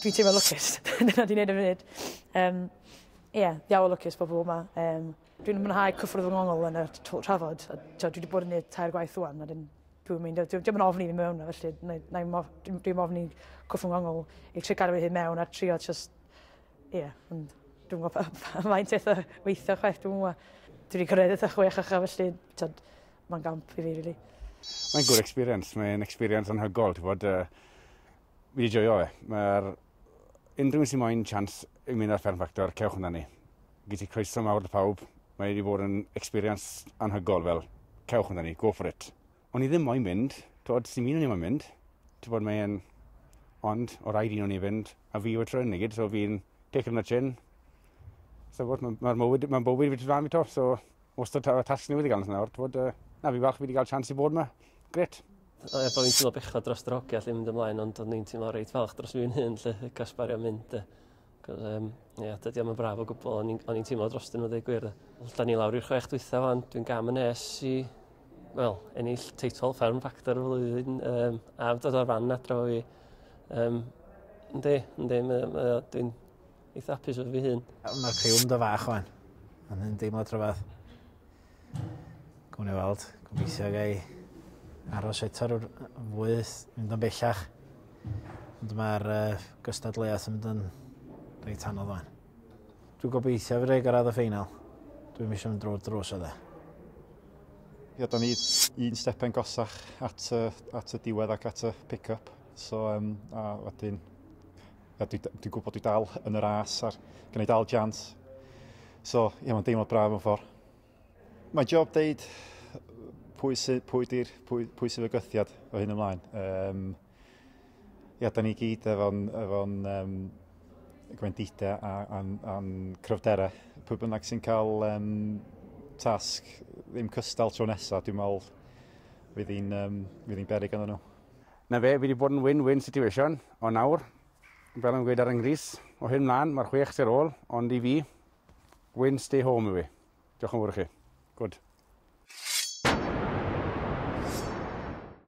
Dwi'n teimlo lwcus. Dyna dwi'n neud ar y funud. Yym ie ddiawl o lwcus bo' pobol 'ma yym dwi'n mwynhau cyffwrdd fy ngongl yn y t- twr trafod a t'od dwi 'di bod yn neud tair gwaith ŵan a 'dyn dwi'm yn meindio dyw dio'm yn ofni fi mewn yna felly nâi nâi mof- dwi dwi'n ofni cyffwrdd ngongl i trio cadw fy hun mewn a trio jys ie ond dwi'm yn gwbo pa faint eith o weithio chwaith dwi'm yn wbo. Dwi 'di cyrredd eitha chwech a cha felly t'od Mae'n gamp i fi, rili. Mae'n good experience. Mae'n experience anhygol. Ti'n bod, uh, fi wedi joio e. Mae'r... Unrhyw un sy'n moyn chance i mynd ar Fern Factor, cewch yna ni. Gyd i croeso mawr dy pawb. Mae wedi bod yn experience anhygol fel. Cewch yna ni, go for it. O'n i ddim moyn mynd, tywod, sy'n un o'n i moyn mynd. Ti'n bod, mae'n... Ond, o rhaid un o'n i fynd, a fi yw y tryn i gyd, so fi'n take on the chin. So, mae'r mywyd, mae'n bywyd fi ti flan fi to, so Wastad y tasg newydd i gael yn nawr, bod, uh, na fi falch fi wedi cael chance i bod yma. Gret. Er bod fi'n teimlo bechod dros yr hogia lle mynd ymlaen, ond o'n i'n teimlo reit falch dros fi'n hyn lle gasbario mynd. Uh, Cos, um, yeah, dydy o'm yn braf o gwbl, o'n i'n teimlo dros dyn nhw ddweud gwir. Da ni lawr i'r chwech dwytha fan, dwi'n gam yn es i, wel, ennill teitl Fferm Factor y flwyddyn, um, a dod o'r fan adro i. Um, ynddi, ynddi, dwi'n Eitha apus efo fi hun. Mae'r criw'n do fach o'n. Ond yn deimlo trafod. Gwni ni weld. Gobeithio gai aros eto rwy'r fwy mynd o'n bellach. Ond mae'r uh, gystadleuaeth yn mynd yn reit anodd o'n. Dwi'n gobeithio fi rei gyrraedd y ffeinal. Dwi'n eisiau mynd drwy'r drws o dde. Ie, da ni un stepen gosach at y, at y diwedd ac at y pick-up. So, um, a wedyn A dwi, dwi gwybod dwi dal yn yr as a'r gen i dal jans. So, ie, yeah, mae'n deimlo braf yn ffordd. Mae job deud pwy, sy, pwy, dir, pwy, pwy sy'n fygythiad o hyn ymlaen. Um, ia, da ni gyd efo'n efo um, gwendidau a'n a, a cryfderau. Pwy bynnag sy'n cael um, tasg ddim cystal tro nesaf, dwi'n meddwl fydd hi'n um, berig yn nhw. 'Na fe, fi 'di bod yn win-win situation, ond nawr, fel o'n i'n gweud ar 'y nghrys, o hyn mlan, ma'r chwech sy ar ôl, ond i fi, win stay home yw 'i. Diolch yn fowr i chi. Good.